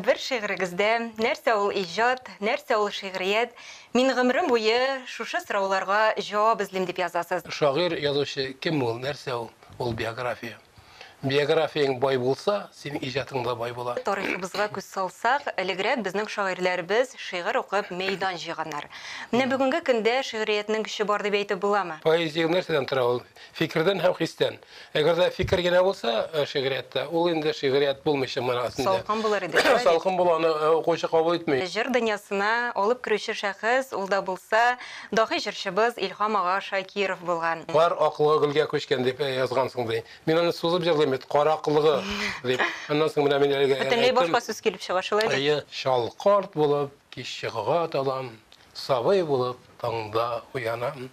Бер шигырегездә, Нәрсә ул иҗат, нәрсә ул шигърият, мин гомерем буе шушы сорауларга җавап эзлим, дип язасыз. Шагыйрь, язучы кем ул, нәрсә ул? Ул биография. Биографияң бай булса, синең иҗатың да бай була. Тарихыбызга күз салсак, элегрәк безнең шагыйрьләребез шигырь укып мәйдан җыйганнар. Менә бүгенге көндә шигъриятнең көче бар дип әйтеп буламы? Поэзия нәрсәдән тора? Ул фикердән һәм хистән. Әгәр дә фикер генә булса э, шигърияттә, ул инде шигърият булмыйча манасында. Салкын булыр иде. Салкын була, аны э, укучы кабул итми. Җыр дөньясына алып керүче шәхес ул да булса, даһи җырчыбыз Илһам ага Шакиров булган. Кар аклыгы гөлгә күчкән дип э, язгансың ди. Мин аны сузып җырлыйм бит, кар аклыгы дип. Аннан соң менә мин әлегә Бөтенләй башка сүз килеп чыга, шулай бит? Әйе, чал карт булып кич чыгуга талам, сабый булып таңда уянам.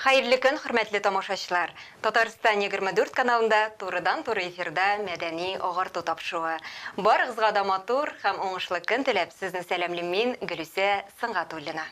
Хәерле көн, хөрмәтле тамашачлар! Татарстан 24 каналында турыдан-туры эфирда мәдәни агарту тапшуы. Барыгызга да матур һәм уңышлы көн теләп, сезне сәламлим мин, Гөлүсә Сөнгатуллина.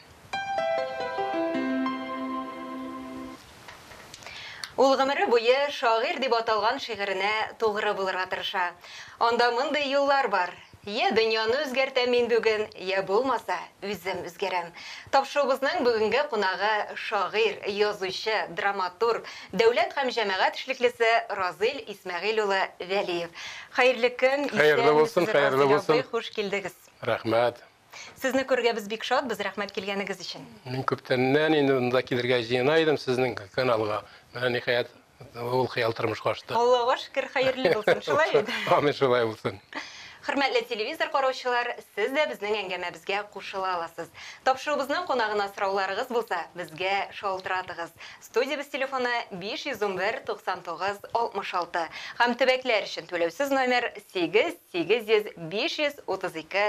Ул гомере буе шагыйрь дип аталган шигыренә тугры булырга тырыша. Анда мондый юллар бар, Йә дөньяны үзгәртәм мин бүген, йә булмаса, үзем үзгәрәм. Тапшуыбызның бүгенге кунагы, шагыйрь, язучы, драматург, дәүләт һәм җәмәгать эшлеклесе Разыйль Исмәгыйль улы Вәлиев. Хәерле көн, исәнмесез, Разыйль абый, хуш килдегез! Рәхмәт! Сезне күрергә без бик шатбыз, рәхмәт килгәнегез өчен. Мин күптәннән инде монда килергә җыена идем сезнең каналга. Менә ниһаять ул хыял тормышка ашты. Аллага шөкер, хәерле булсын, шулай бит? Амин, шулай булсын. Хөрмәтле телевизор караучылар, сез дә безнең әңгәмәбезгә кушыла аласыз. Тапшыруыбызның кунагына сорауларыгыз булса, безгә шалтыратыгыз. Студиябез телефоны, 511 99 66 һәм төбәкләр өчен түләүсез номер, 8 800 532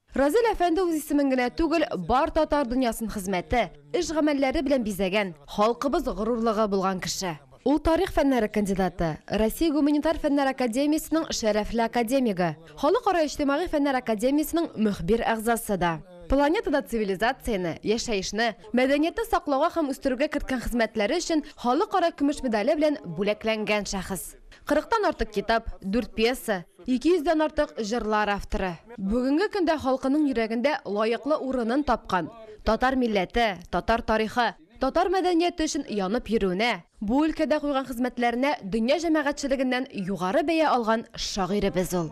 Разил әфәнде үз исемен генә түгел, бар татар дөньясын хезмәте, эш-гамәлләре белән бизәгән, халкыбыз горурлыгы булган кеше. Ул тарих фәннәре кандидаты, Россия гуманитар фәннәр академиясенең шәрәфле академигы, Халыкара иҗтимагый фәннәр академиясенең мөхбир әгъзасы да. Планетада цивилизацияне, яшәешне, мәдәниятне саклауга һәм үстерүгә керткән хезмәтләре өчен Халыкара көмеш медале белән бүләкләнгән шәхес. Кырыктан артык китап, дүрт пьеса, ике йөздән артык җырлар авторы. Бүгенге көндә халкының йөрәгендә лаеклы урынын тапкан, татар милләте, татар тарихы, татар мәдәнияте өчен янып йөрүенә, бу өлкәдә куйган хезмәтләренә дөнья җәмәгатьчелегеннән югары бәя алган шагыйребез ул.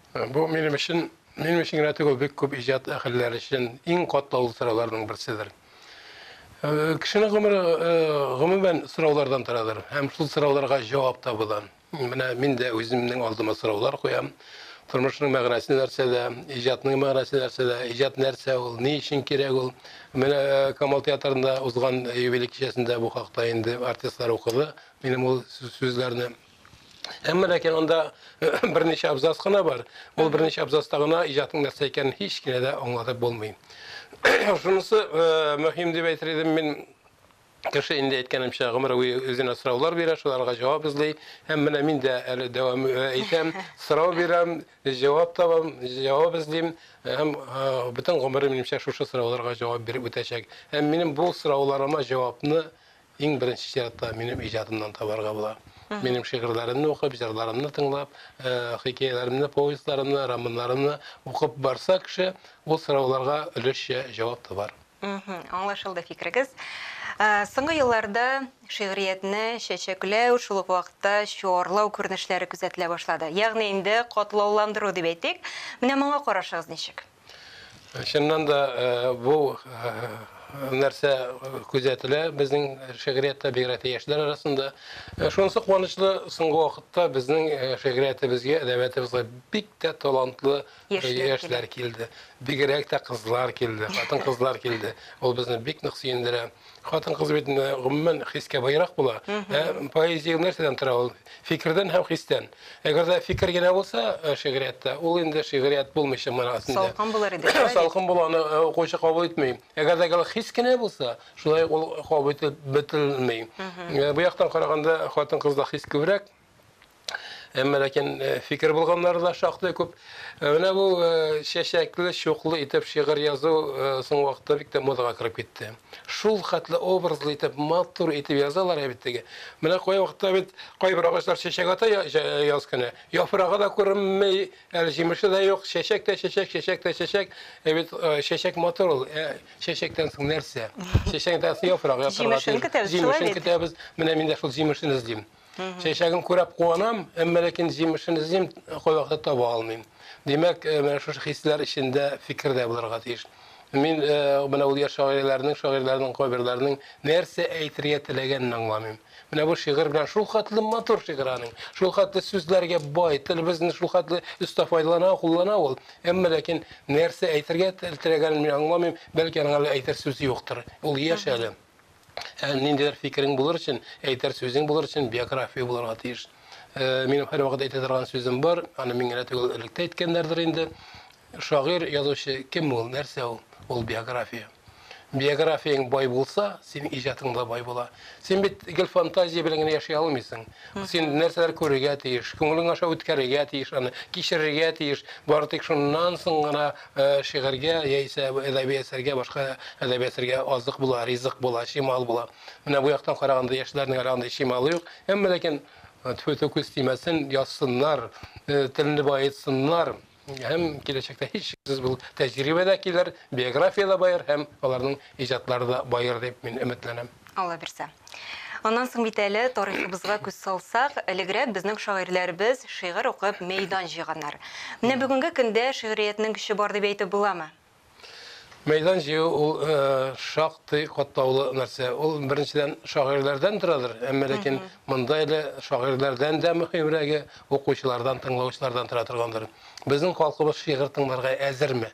Бу минем өчен, минем өчен генә түгел, бик күп иҗат әһелләре өчен иң катлаулы сорауларның берседер. Э, кешенең гомере э, гомумән сораулардан торадыр һәм шул сорауларга җавап табудан. Менә мин дә үземнең алдыма сораулар куям. Тормышның мәгънәсе нәрсәдә, иҗатның мәгънәсе нәрсәдә, иҗат нәрсә ул, ни өчен кирәк ул? Менә э, Камал театрында узган юбилей кичәсендә бу хакта инде артистлар укыды. Минем ул сүзләрне Әмма ләкин анда берничә абзац кына бар. Ул берничә абзацта гына иҗатның нәрсә икәнен һич кенә дә аңлатып булмый. Шунысы э, мөһим дип әйтер идем мин кеше инде әйткәнемчә гомер буе үзенә сораулар бирә, шуларга җавап эзли. Һәм менә мин дә әле дәвам э, итәм, сорау бирәм, җавап табам, җавап эзлим һәм э, бөтен гомерем минемчә шушы сорауларга җавап биреп үтәчәк. Һәм минем бу сорауларыма җавапны Иң беренче чиратта минем иҗатымнан табарга була. Минем шигырьләремне укып, җырларымны тыңлап, хикәяләремне, повестьларымны, романнарымны укып барса кеше, ул сорауларга өлешчә җавап табар. Аңлашылды фикерегез. Соңгы елларда шигъриятне чәчәкләү, шул ук вакытта чуарлау күренешләре күзәтелә башлады. Ягъни инде катлауландыру дип әйтик. Менә моңа карашыгыз ничек? Чыннан да бу нәрсә күзәтелә безнең шигъриятта бигрәк тә яшьләр арасында. Шунысы куанычлы, соңгы вакытта безнең шигъриятебезгә, әдәбиятебезгә бик тә талантлы яшьләр килде. Бигрәк тә кызлар килде, хатын-кызлар килде. Ул безне бик нык сөендерә. Хатын-кыз бит э, гомумән хискә баерак була. Ә поэзия нәрсәдән тора ул? Фикердән һәм хистән. Әгәр дә фикер генә булса э, шигъриятта, ул инде шигърият булмыйча мына астында. Салкын булыр иде, шулай бит? Салкын була, аны э, укучы кабул итми. Әгәр дә гел хис кенә булса, шулай ук ул кабул ителеп бетерелми. Э, Бу яктан караганда хатын-кызда хис күбрәк, Әмма ләкин э, фикер булганнары да шактый күп. Э, менә бу э, чәчәкле, чуклы итеп шигырь язу соң вакытта бик тә модага кереп китте. Шул хәтле образлы итеп, матур итеп язалар ә бит теге. Менә кай вакытта бит кайбер агачлар чәчәк ата яз көне. Яфрагы да күренмей, әле җимеше дә юк, чәчәк тә чәчәк, чәчәк тә чәчәк. Ә бит чәчәк матур ул. Чәчәктән соң нәрсә? Чәчәктән соң яфрак, яфрак. Җимешен көтәбез. Җимешен көтәбез. Менә мин дә шул җимешен эзлим. Чәчәген күрәп куанам, әмма ләкин җимешен эзлим, кайвакыта таба алмыйм. Димәк, э, менә шушы хисләр эчендә фикер дә булырга тиеш. Мин э, менә ул яшь шагыйрьләрнең, шагыйрьләрнең кайберләренең нәрсә әйтергә теләгәнен аңламыйм. Менә бу шигырь белән шул хәтле матур шигырь аның. Шул хәтле сүзләргә бай, телебезне шул хәтле өстә файдалана, куллана ул. Әмма ләкин нәрсә әйтергә теләгәнен мин аңламыйм. Бәлки аның әле әйтер сүзе юктыр. Ул яшь әле. Ә ниндидер фикерең булыр өчен, әйтер сүзең булыр өчен биография булырга тиеш. Э, минем һәрвакыт әйтә торган сүзем бар, аны мин генә түгел, элек тә әйткәннәрдер инде. Шагыйрь, язучы кем ул, нәрсә ул? Ул биография. Биографияң бай булса, син иҗатың да бай була. Син бит гел фантазия белән генә яши алмыйсың. Син нәрсәләр күрергә тиеш, күңелең аша үткәрергә тиеш аны, кичерергә тиеш. Бары тик шуннан соң гына Шигырьгә яисә әдәби әсәргә, башка әдәби әсәргә азык була, ризык була, чимал була. Менә бу яктан караганда яшьләрнең әле андый чималы юк. Әмма ләкин тфү-тфү күз тимәсен, язсыннар, телне баетсыннар һәм киләчәктә һичшиксез бу тәҗрибә дә килер, биография дә баер һәм аларның Иҗатлары да баер дип мин өметләнәм. Аллабирса. Аннан соң бит әле, тарихыбызга күз салсак, элегрәк безнең шагыйрьләребез шигырь укып мәйдан җыйганнар. Менә бүгенге көндә шигъриятнең көче бар дип әйтеп буламы? Мәйдан җыю ул шактый катлаулы нәрсә. Ул, беренчедән, шагыйрьләрдән торадыр, әмма ләкин монда әле шагыйрьләрдән дә мөһимрәге, укучылардан, тыңлаучылардан тора торгандыр. Безнең халкыбыз шигырь тыңларга әзерме?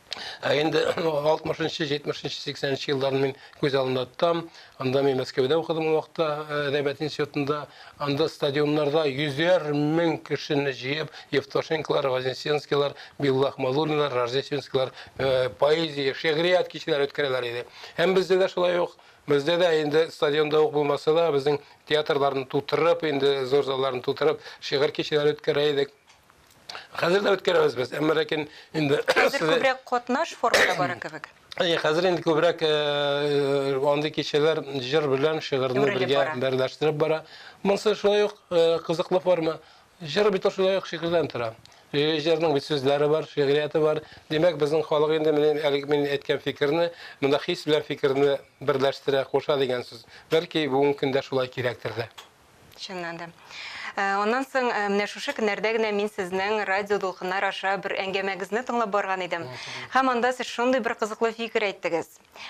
Ә инде 60-нчы, 70-нче, 80-нче елларны мин күз алдында тотам. Анда мин Мәскәүдә укыдым ул вакытта э, әдәбият институтында. Анда стадионнарда йөзәр мең кешене җыеп, Евтошенколар, Вознесенскийлар, Билла Ахмадуллинлар, Рождественскийлар э, поэзия, шигърият кичәләре үткәрәләр иде. Һәм бездә дә шулай ук Бездә дә инде стадионда ук булмаса да, безнең театрларны тутырып, инде зур залларны тутырып, шигырь кичәләре үткәрә идек. Хәзер дә үткәрәбез без, әмма ләкин инде хәзер күбрәк катнаш формада бара кебек. Әйе, хәзер инде күбрәк э, э, андый кичәләр җыр белән шигырьне бергә берләштереп бара. Монсы шулай ук э, кызыклы форма. Җыр бит шулай ук шигырьдән тора. Җырның бит сүзләре бар, шигърияте бар. Димәк, безнең халык инде менә әлеге мин әйткән фикерне, монда хис белән фикерне берләштерә, куша дигән сүз. Бәлки бүгенге көндә шулай кирәктер дә. Чыннан да. Э, аннан соң э, менә шушы көннәрдә генә мин сезнең радио дулкыннар аша бер әңгәмәгезне тыңлап барган идем. Һәм анда сез шундый бер кызыклы фикер әйттегез.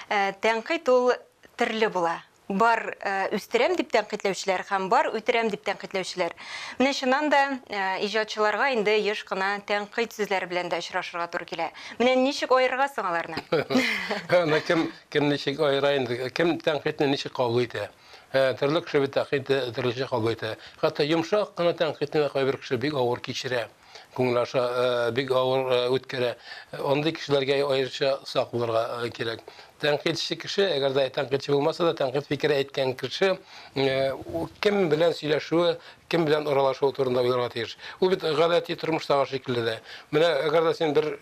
Э, тәнкыйть ул төрле була бар э, үстерәм дип тәнкыйтьләүчеләр һәм бар үтерәм дип тәнкыйтьләүчеләр. Менә чыннан да э, иҗатчыларга инде еш кына тәнкыйть сүзләре белән дә очрашырга туры килә. Менә ничек аерырга соң аларны? Аны кем кем ничек аера инде? Кем тәнкыйтьне ничек кабул итә? Ә терлек кеше бит тәкъдит дә төрлечә кабул итә. Хәтта йомшак кына тәнкыйтьне дә кайбер кеше бик авыр кичерә, күңел аша бик авыр үткәрә. Андый кешеләргә аеруча сак булырга кирәк. Тәнкыйтьче кеше, әгәр дә тәнкыйтьче булмаса да, тәнкыйть фикере әйткән кеше кем белән сөйләшүе, кем белән аралашуы турында уйларга тиеш. Ул бит гадәти тормыштагы шикелле дә. Менә әгәр дә син бер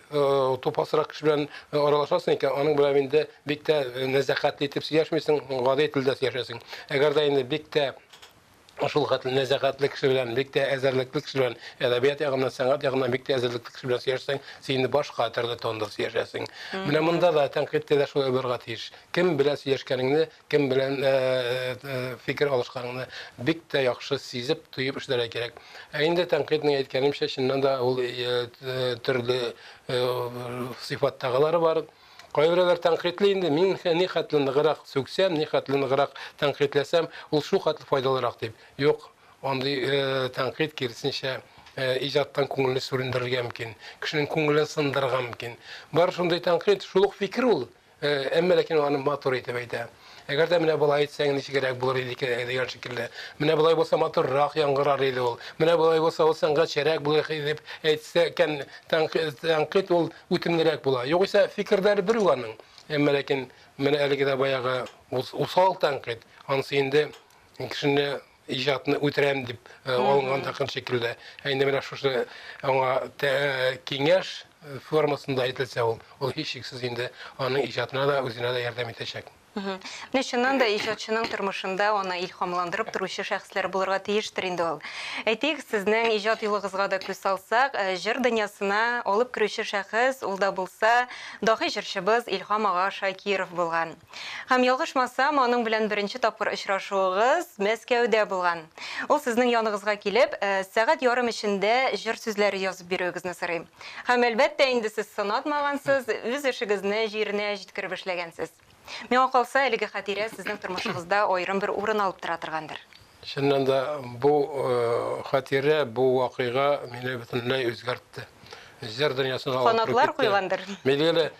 тупасрак кеше белән аралашасың икән, аның белән инде Бик тә нәзакәтле итеп сөйләшмисең, гади телдә сөйләшәсең. Әгәр дә инде бик тә шул хәтле нәзакәтле кеше белән, бик тә әзерлекле кеше белән, әдәбият ягыннан, сәнгать ягыннан бик тә әзерлекле кеше белән сөйләшсәң, син инде башка төрле тонда сөйләшәсең. Менә монда да тәнкыйтькә дә шулай булырга тиеш. Кем белән сөйләшкәнеңне, кем белән фикер алышканыңны бик тә яхшы сизеп, тоеп эшләргә кирәк. Ә инде тәнкыйтьнең, әйткәнемчә, чыннан да ул төрле сыйфаттагылары бар. Кайберәүләр тәнкыйтьли инде, мин нихәтле ныграк сүксәм, нихәтле ныграк тәнкыйтьләсәм, ул шулхәтле файдалырак дип. Юк, андый тәнкыйть, киресенчә, иҗаттан күңелне сүрендерергә мөмкин, кешенең күңелен сындырырга мөмкин. Бары шундый тәнкыйть, шул ук фикер ул, әмма ләкин ул аны матур итеп әйтә. Әгәр дә менә болай әйтсәң, ничегрәк булыр иде икән әле дигән шикелле. Менә болай булса матуррак яңгырар иде ул. Менә болай булса ул сәнгатьчәрәк булыр иде дип әйтсә икән, тәнкыйть ул үтемлерәк була. Югыйсә, фикерләре бер үк аның. Әмма ләкин менә әлеге дә баягы усал тәнкыйть, анысы инде кешене иҗатны үтерәм дип алынган такын шикелле. Ә инде менә шушы аңа киңәш формасында әйтелсә ул, ул һичшиксез инде аның иҗатына да, үзенә дә ярдәм итәчәк. Менә чыннан да иҗатчының тормышында аны илһамландырып торучы шәхесләр булырга тиештер инде ул. Әйтик, сезнең иҗат юлыгызга да күз салсак, җыр дөньясына алып керүче шәхес ул да булса, даһи җырчыбыз Илһам ага Шакиров булган. Һәм ялгышмасам, аның белән беренче тапкыр очрашуыгыз Мәскәүдә булган. Ул сезнең яныгызга килеп, сәгать ярым эчендә җыр сүзләре язып бирүегезне сорый. Һәм, әлбәттә, инде сез сынатмагансыз, үз эшегезне җиренә җиткереп эшләгәнсез. Миңа калса, әлеге хатирә сезнең тормышыгызда аерым бер урын алып тора торгандыр. Чыннан да, бу хатирә, бу вакыйга мине бөтенләй үзгәртте. Җыр дөньясына алып кереп китте. Канатлар куйгандыр.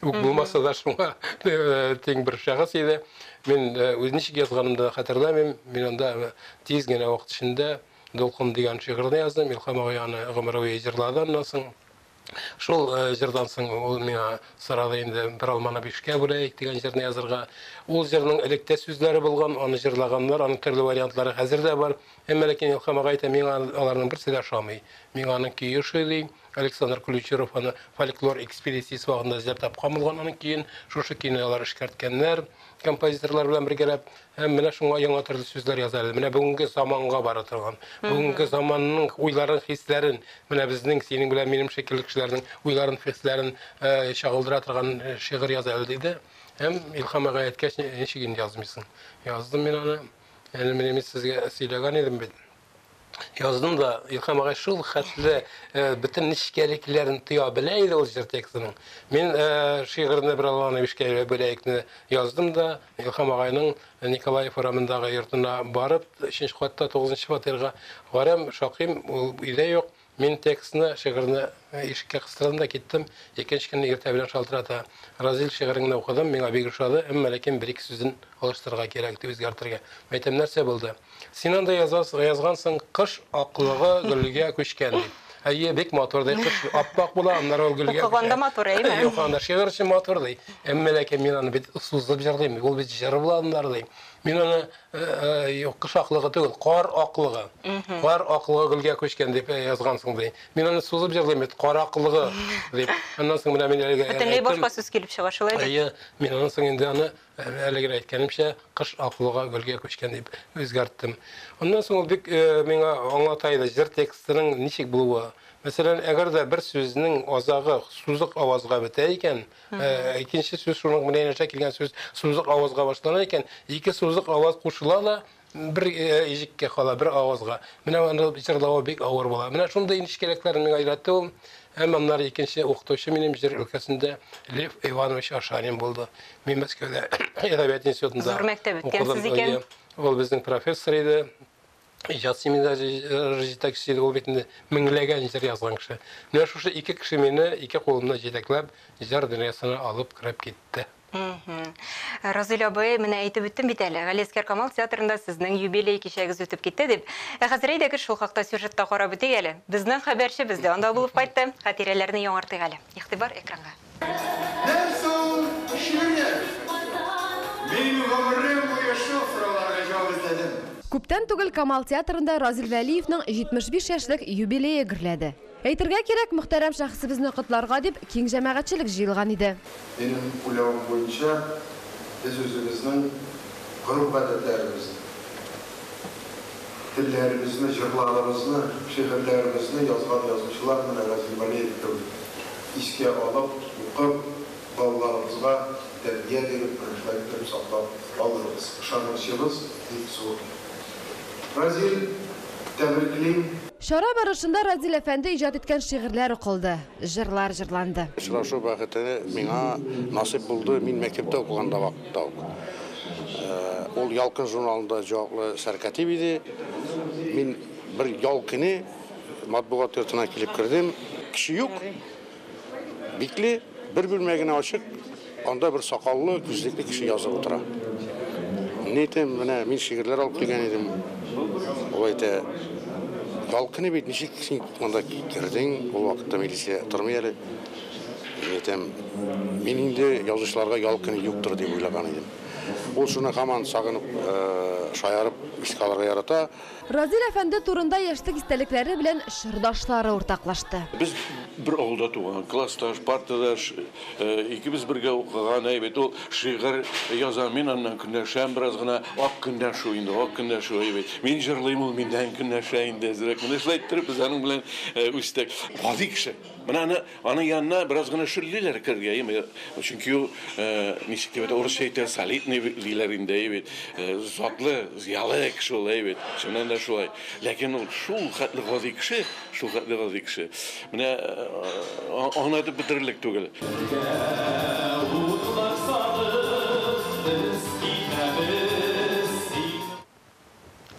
Үк булмаса да шуңа тиң бер шәхес иде. Мин үз ничек язганымды хәтерләмим. Мин анда тиз генә вакыт эчендә Дулкын дигән шигырьне яздым. Илхам агай аны гомер буе җырлады аннан соң. Шул җырдан соң ул миңа сорады инде бер алманы бишкә бүләйек дигән җырны язырга. Ул җырның элек тә сүзләре булган, аны җырлаганнар, аның төрле вариантлары хәзер дә бар. Әмма ләкин Илхам агай әйтә, миңа аларның берсе дә ошамый. Миңа аның көе ошый ди. Александр Ключеров аны фольклор экспедициясе вакытында эзләп тапкан булган, аның көен шушы көйне алар эшкәрткәннәр, композиторлар белән бергәләп. Һәм менә шуңа яңа төрле сүзләр яза әле. Менә бүгенге заманга бара торган, бүгенге заманның уйларын, хисләрен, менә безнең, синең белән минем шикелле кешеләрнең уйларын, хисләрен э, чагылдыра торган э, шигырь яза әле, диде. Һәм Илхам ага әйткәч, ничек инде язмыйсың? Яздым мин аны. Әле менә мин сезгә сөйләгән идем бит. Яздым да, Илхам агай шул хәтле бөтен нечкәлекләрен тоя белә иде ул җыр текстының. Мин шигырьне бер алган эшкә бәләекне яздым да, Илхам агайның Николаев урамындагы йортына барып, 3 катта 9 фатирга барам, шакыйм, ул өйдә юк. Мин текстны, шигырьне ишеккә кыстырдым да киттем. Икенче көнне иртә белән шалтырата. Разил, шигырен генә укыдым, миңа бик ошады, әмма ләкин бер-ике сүзен алыштырырга кирәк ди, үзгәртергә. Мәйтәм, нәрсә булды? Син анда язасың, язгансың, кыш аклыгы гөлгә күчкән дип. Әйе, бик матур ди, кыш ап-ак була, аннары ул гөлгә күчә. Укыганда матур, әйеме? Укыганда шигырь өчен матур ди. Әмма ләкин мин аны бит сузып җырлыйм, ул бит җыр була аннары ди. Мин аны Юк, кыш аклыгы түгел, кар аклыгы. Кар аклыгы гөлгә күчкән дип язгансың, ди. Мин аны сузып җырлыйм бит, кар аклыгы дип. Аннан соң менә мин әлегә әйттем. Бөтенләй башка сүз килеп чыга, шулай бит? Әйе, мин аннан соң инде аны әлеге әйткәнемчә, кыш аклыгы гөлгә күчкән дип үзгәрттем. Аннан соң ул бик миңа аңлата иде, җыр текстының ничек булуы. Мәсәлән, әгәр дә бер сүзнең азагы сузык авазга бетә икән, Э, икенче сүз шуның менән аша килгән сүз сузык авазга башлана икән ике сузык аваз кушыла да бер э, ижеккә кала бер авазга менә аны җырлавы бик авыр була менә шундый нечкәлекләр миңа өйрәтте ул һәм аннары икенче укытучы минем җыр өлкәсендә лев иванович ашарин булды мин мәскәүдә әдәбият институтында зур мәктәп үткәнсез икән ул безнең профессор иде Иҗат семинары җитәкчелеге ул бит инде меңләгән җыр язган кеше. Менә шушы ике кеше мине ике кулымны җитәкләп җыр дөньясына алып кереп китте. Разыйль абый, менә әйтеп үттем бит әле, Галиәскәр Камал театрында сезнең юбилей кичәгез үтеп китте дип. Ә хәзер әйдәгез шул хакта сюжетта карап үтик әле. Безнең хәбәрчебез дә анда булып кайтты. Хәтирәләрне яңартыйк әле. Игътибар экранга. Нәрсә ул шигырьләр? Мин гомерем буе шул сорауларга җавап эзләдем. Күптән түгел Камал театрында Разил Вәлиевның 75 яшьлек юбилее гөрләде. Әйтергә кирәк, мөхтәрәм шәхесебезне котларга дип, киң җәмәгатьчелек җыелган иде. Минем уйлавым буенча, без үзебезнең гореф-гадәтләребезне. телләребезне, җырларыбызны, шигырьләребезне язган язучылар менә Разил Валеев кебек искә алып, укып, балаларыбызга тәрбия биреп, мәгърифәт биреп саклап калырбыз. Ышанычыбыз бик зур. Разил, тәбриклим! Чара барышында Разил әфәнде иҗат иткән шигырьләр укылды, җырлар җырланды. Очрашу бәхете миңа насыйп булды, мин мәктәптә укыганда вак. Таук. Ул Ялкын журналында җаваплы сәркатип иде. Мин бер ял көне матбугат йортына килеп кердем. Кеше юк. Бикле, бер бүлмә генә ачык. Анда бер сакаллы, күзлекле кеше язып утыра. Мин әйтәм, менә мин шигырьләр алып килгән идем. Ул әйтә, ял көне бит, ничек син монда кердең? Ул вакытта милиция тормый әле. Әйтәм, мин инде язучыларга ял көне юктыр дип уйлаган идем. Ул шуны һаман сагынып, шаярып искә алырга ярата. Разил әфәнде турында яшьлек истәлекләре белән чордашлары уртаклашты. Без бер авылда туган, классташ, партадаш, икебез бергә укыган, әйбәт, ул шигырь яза, мин аннан көнләшәм бераз гына. Ак көнләшү инде, ак көнләшү, әйбәт. Мин җырлыйм, ул миннән көнләшә инде әзрәк. Менә шулай иттереп без аның белән үстек. Гади кеше. Менә аны, аның янына бераз гына шүллиләр керергә, яме, чөнки ул, ничек дип әйтә, урысча әйтә, солидный диләр инде, әйе бит, затлы, зыялы кеше ул, әйе бит, чыннан да шулай. Ләкин ул шул хәтле гади кеше, шул хәтле гади кеше, менә аңлатып бетерерлек түгел.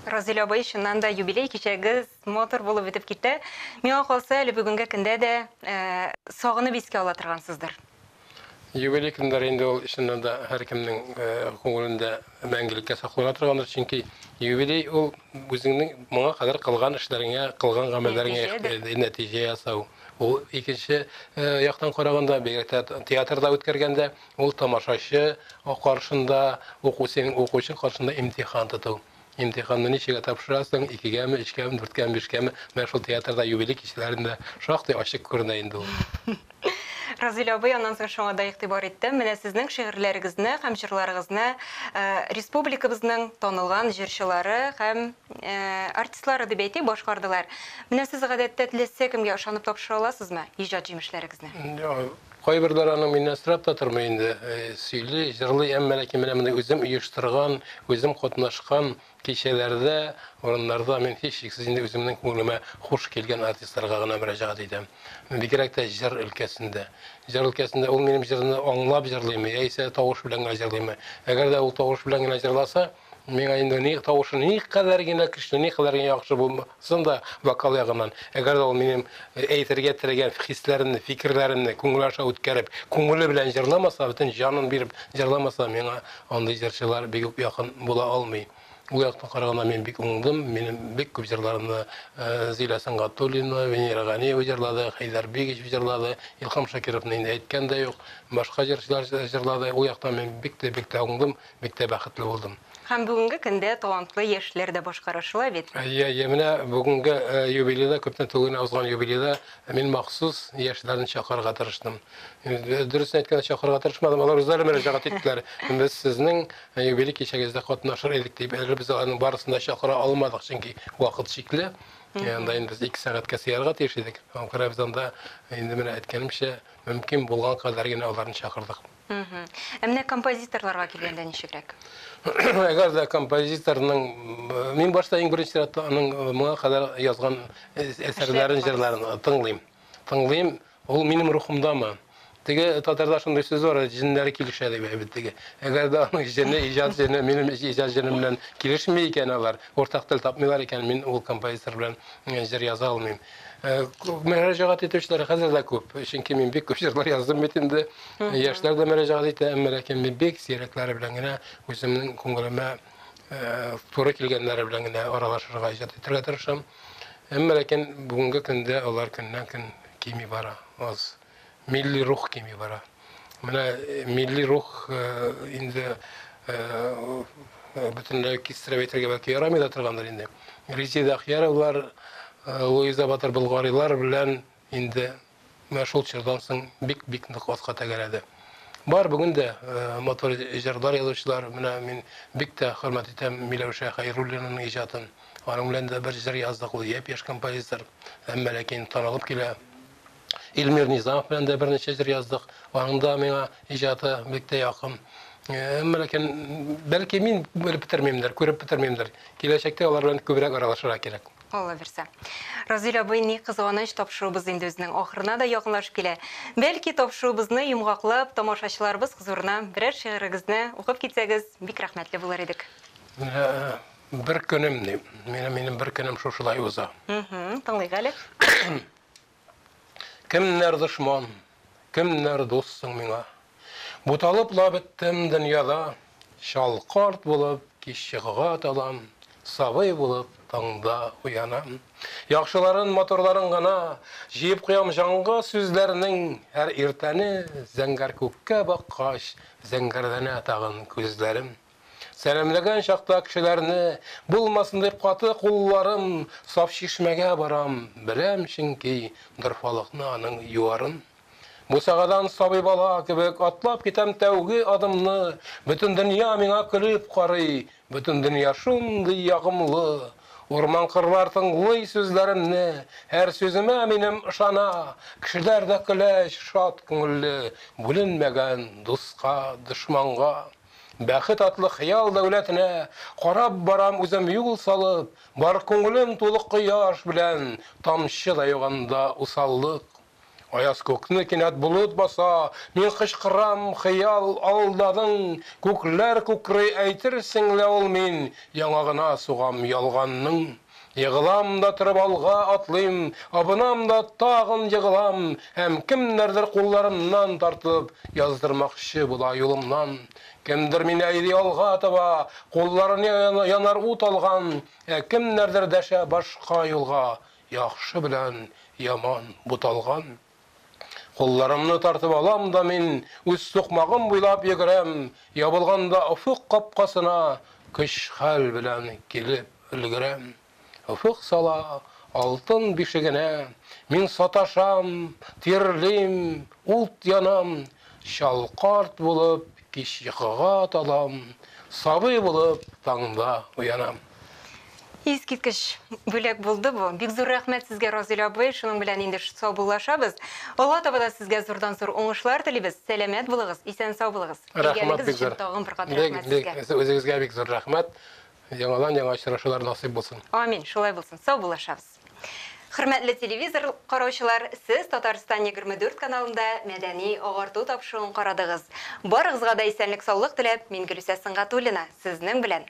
Разилә абый, чыннан да юбилей кичәгез матур булып үтеп китте. Миңа калса, әле бүгенге көндә дә э, сагынып искә ала торгансыздыр. Юбилей көндәр инде ул чыннан да һәркемнең э, күңелендә мәңгелеккә саклана торгандыр, чөнки юбилей ул үзеңнең моңа кадәр кылган эшләреңә, кылган гамәлләреңә нәтиҗә, нәтиҗә ясау. Ул икенче э, яктан караганда, бигрәк театрда үткәргәндә, Ул тамашачы каршында, уку син укучы каршында имтихан тоту. Имтиханны ничегә тапшырасың, икегәме, өчкәме, дүрткәме, бишкәме, менә шул театрда юбилей кичәләрендә шактый ачык күренә инде ул. Разыйлә абый, аннан соң шуңа да игътибар иттем. Менә сезнең шигырьләрегезне һәм җырларыгызны республикабызның танылган җырчылары һәм артистлары дип әйтик, башкардылар. Менә сез гадәттә теләсә кемгә ышанып тапшыра аласызмы иҗат җимешләрегезне? Кайберләр аның миннән сорап та тормый инде, сөйли, җырлый, әмма ләкин менә мондый үзем оештырган, үзем катнашкан кичәләрдә, урыннарда мин һичшиксез инде үземнең күңелемә хуш килгән артистларга гына мөрәҗәгать итәм. Бигрәк тә җыр өлкәсендә. Җыр өлкәсендә ул минем җырны аңлап җырлыймы, яисә тавыш белән генә җырлыймы. Әгәр дә ул тавыш белән генә җырласа, Миңа инде ни тавышы никадәр генә көчле, никадәр генә яхшы булмасын да вокал ягыннан, әгәр дә ул минем э, әйтергә теләгән хисләремне, фикерләремне күңел аша үткәреп, күңеле белән җырламаса, бөтен җанын биреп җырламаса, миңа андый җырчылар бик үк якын була алмый. Ул яктан караганда мин бик уңдым. Минем бик күп җырларымны э, Зилә Сәнгатуллина, Венера Ганиева җырлады, Хәйдәр Бигич җырлады, Илхам Шакировны инде әйткән дә юк. Башка җырчылар җырлады. Ул яктан мин бик тә бик тә уңдым. Бик тә бәхетле булдым. Һәм бүгенге көндә талантлы яшьләр дә башкарышыла бит. Әйе, әйе, менә бүгенге юбилейда, күпме түгел генә узган юбилейда мин махсус яшьләрне чакырырга тырыштым. Дөресен әйткәндә, чакырырга тырышмадым, алар үзләре мөрәҗәгать иттеләр. Без сезнең юбилей кичәгездә катнашыр идек дип, әле без аларның барысын да чакыра алмадык, чөнки вакыт чикле. Анда инде без ике сәгатькә сыярга тиеш идек. Аңа күрә без анда, инде менә әйткәнемчә, мөмкин булган кадәр генә аларны чакырдык. Ә менә композиторларга килгәндә ничегрәк? Әгәр дә композиторның мин башта иң беренче чиратта аның э, моңа кадәр язган э, әсәрләрен, җырларын э, тыңлыйм. Тыңлыйм, ул минем рухымдамы? Теге татарда шундый сүз бар, җеннәре килешә дип әйбит теге. Әгәр дә аның җене, иҗат җене, минем иҗат җенем белән килешми икән алар, уртак тел тапмыйлар икән, мин ул композитор белән җыр яза алмыйм. Э, мөрәҗәгать итүчеләр хәзер дә күп. Чөнки мин бик күп җырлар яздым бит инде. Яшьләр дә мөрәҗәгать итә, әмма ләкин мин бик сирәкләре белән генә үземнең күңелемә э, туры килгәннәре белән генә аралашырга, иҗат итәргә тырышам. Әмма ләкин бүгенге көндә алар көннән-көн кими бара, аз. Милли рух кими бара. Менә э, милли рух э, инде э, бөтенләй кистереп әйтергә бәлки ярамый да торгандыр инде. Резеда Ахьяровлар, Луиза Батыр Болгарилар белән инде менә шул чордан соң бик-бик нык атка тәгәрәде. Бар бүген дә мотор җырлар язучылар, менә мин бик тә хөрмәт итәм Миләүшә Хәйруллинаның иҗатын. Аның белән дә бер җыр яздык, ул япь-яшь композитор, әмма ләкин танылып килә. Илмир Низамов белән дә берничә җыр яздык. Аның да миңа иҗаты бик тә якын. Әмма ләкин бәлки мин белеп бетермимдер, күреп бетермимдер. Киләчәктә алар белән күбрәк аралашырга кирәк. Алла бирсә. Разил абый, ни кызганыч, тапшыруыбыз инде үзенең ахырына да якынлашып килә. Бәлки, тапшыруыбызны йомгаклап, тамашачыларыбыз хозурына берәр шигырегезне укып китсәгез, бик рәхмәтле булыр идек. Бер көнем, ди. Минем бер көнем шушылай уза. Тыңлыйк әле. Кемнәр дошман, кемнәр дус соң миңа? Буталып ла беттем дөньяда, Чал карт булып кич йокыга талам, Сабый булып таңда уянам. Яхшыларын, матурларын гына Җыеп куям җанга сүзләрнең, Һәр иртәне зәңгәр күккә баккач, Зәңгәрләнә тагын күзләрем. Сәламләгән чакта кешеләрне, Булмасын дип каты кулларым, Саф чишмәгә барам, беләм чөнки, Дорфалыкны аның юарын. Бусагадан сабый бала кебек Атлап китәм тәүге адымны, Бөтен дөнья миңа көлеп карый, Бөтен дөнья шундый ягымлы. Урман-кырлар тыңлый сүзләремне, Һәр сүземә минем ышана, Кешеләр дә көләч, шат күңелле, Бүленмәгән дуска, дошманга. Бәхет атлы хыял дәүләтенә Карап барам үзем юл салып, Бар күңелем тулы кояш белән, Тамчы да юк анда усаллык. Аяз күкне кинәт болыт баса, Мин кычкырам, хыял, алдадың, Күкләр күкри, әйтерсең лә ул мин, Яңагына сугам ялганның. Егылам да торып алга атлыйм, абынам да тагын егылам һәм кемнәрдер кулларымнан тартып яздырмакчы була юлымнан. Кемдер мине әйди алга таба, кулларын янар ут алган, ә кемнәрдер дәшә башка юлга, яхшы белән яман буталган. Кулларымны тартып алам да мин үз сукмагым буйлап йөгерәм, ябылганда офык капкасына көч-хәл белән килеп өлгерәм. Офык сала алтын бишегенә, мин саташам, тирлим, ут янам, чал карт булып кич йокыга талам, сабый булып таңда уянам. Искиткеч бүләк булды бу. Бик зур рәхмәт сезгә, Разил абый. Шуның белән инде саубуллашабыз. Алга таба да сезгә зурдан-зур уңышлар телибез. Сәламәт булыгыз, исән-сау булыгыз. Әйгәлегез өчен тагын бер кат рәхмәт сезгә. Бик, бик, үзегезгә бик зур рәхмәт. Яңадан яңа очрашулар насыйп булсын. Амин, шулай булсын. Саубуллашабыз. Хөрмәтле телевизор караучылар, сез Татарстан 24 каналында мәдәни агарту тапшыруын карадыгыз. Барыгызга да исәнлек-саулык теләп, мин Гөлүсә Сөнгатуллина, сезнең белән